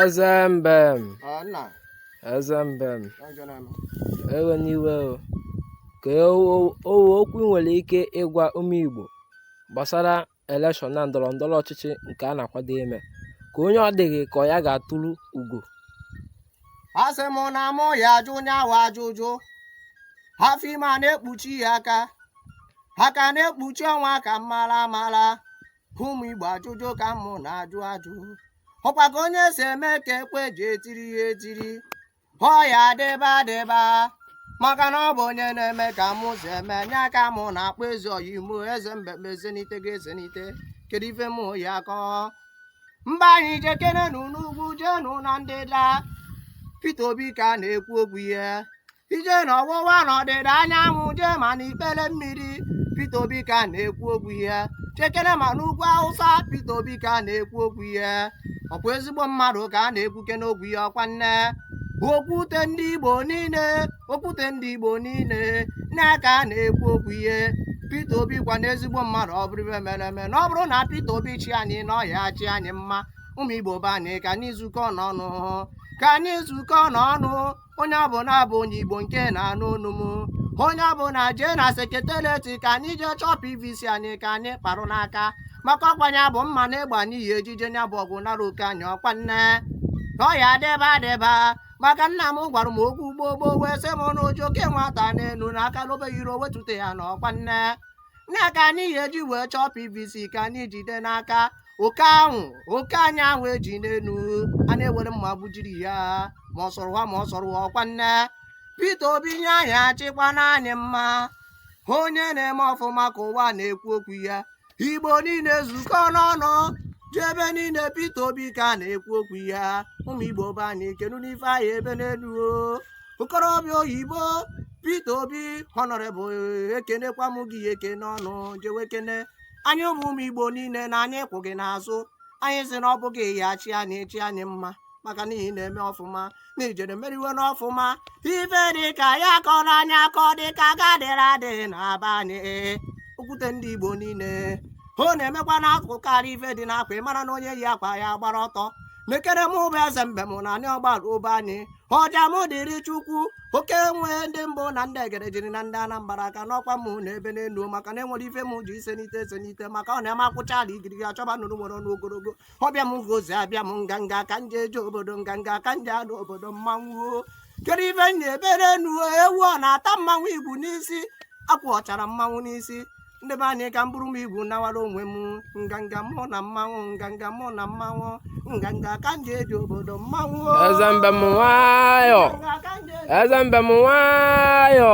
Ezembem. Ah, nna. Ezembem. Ewena iwe o. Kee ọwụ okwu i nwere ike ịgwa ụmụ Igbo. gbasara elekshọn na ndọrọ ndọrọ ọchịchị nke a na-akwado ime kee onye ọ dị gị ka ọ ya ga-eturu ugo asị m na mụ ya ajụ onye ahụ ajụjụ afọ ime a na-ekpuchi ya aka aka na-ekpuchi ọnwa ka m mara amara ụmụ igbo ajụjụ ka mụ na-ajụ ajụ ọkwa ka onye si eme ka ekwe ji etiri ya etiri ọ ya adịba adịba maka na ọ bụ onye na-eme ka mụ si eme nya ka mụ na-akpọ eze ọyị m o eze mbem e ezenite ga ezenite kedu ife mụ ya akọ mba anyị jekenenu n'ugwu jenu na ndịda Peter Obi ka a na-ekwu okwu ya jee na ọwụwa na ọdịda anyanwụ jee ma na ikpele mmiri Peter Obi ka a na-ekwu okwu ya jekere ma n'ugwu Hausa Peter Obi ka a na-ekwu okwu ya ọ bụ ezigbo mmadụ ka a na-ekwu oke n'okwu ya ọkwa nne okwute ndị igbo niile okwute ndị igbo niile nya ka a na-ekwu okwu ya Peter Obi kwanụ ezigbo mmadụ ọ bụrụ ife mere eme na ọ bụrụ na Peter Obi chịa anyị na ọ ya-achị anyị mma ụmụ igbo be anyị ka anyị zukọọnụ ọnụ ka anyị zukọọnụ ọnụ onye ọbụla bụ onye igbo nke na-anụ olu m onye ọbụla jee na sekreterieti ka anyị jee chọọ pvc anyị ka anyị kparụ n'aka maka ọkwa nya bụ mma na egbe anyị ya-eji je nya bụ ọgụ nara oke anyị ọkwa nne ka ọ ya adịba adịba maka nna m gwara m okwu gboo gboo wee sị m na o ji oke nwata n'elu na aka lobe yiri o wetute ya na ọkwa nne nya ka anyị ya-eji wee chọọ pvc ka anyị jide n'aka oke ahụ oke anyị ahụ eji n'elu a na-ewere mma gbujiri ya ma ọ sọrọ ha ma ọ sọrọ ha ọkwa nne Peter Obi ya-achịkwanụ anyị mma onye na-eme ọfụma ka ụwa na-ekwu okwu ya igbo niile zukọọnụ ọnụ jee ebe niile Peter Obi ka a na-ekwu okwu ya ụmụ igbo be anyị kenu n'ife anyị ebe n'elu okorobịa oyibo Peter Obi honorable ekenekwa m gị ekene ọnụ jewe kene anyị bụ ụmụ Igbo niile na anyị kwụ gị n'azụ anyị si na ọ bụ gị ya-achị anyị chịa anyị mma maka na ị na-eme ọfụma na ijere meriwe n'ọfụma ife dị ka ya kọrọ anyị akọ dị ka gadịrị adị na be anyị okwute ndị Igbo niile ọ na-emekwa n'akụkọ karị ife dị n'akwa ị mara na onye yi akwa ya gbara ọtọ mekere m ụbụ eze mbem na anyị ọgbara ụba anyị ọjamụ dịrị chukwu oke nwe ndị mbụ na ndị egere jiri na ndị anambra aka n'ọkwa m na-ebe n'enu maka na e nwere ife m ji ise n'ite ese n'ite maka ọ na-eme akwụcha ala igirigi achọba nụrụ nwere ọnụ ogologo ọbịa m gozi abịa m nganga ka m ji eje obodo nganga ka m ji anọ obodo mmanwụ kedu ife m na-ebere enu ewu ọ na-ata mmanwụ igu n'isi akwụ ọ chara mmanwụ n'isi ndị be anyị ka m buru m igwu nawara onwe m nganga mụ na mmanwụ nganga mụ na mmanwụ nganga ka m ji eje obodo mmanwụ eze mbe m nwayọ eze mbe m nwayọ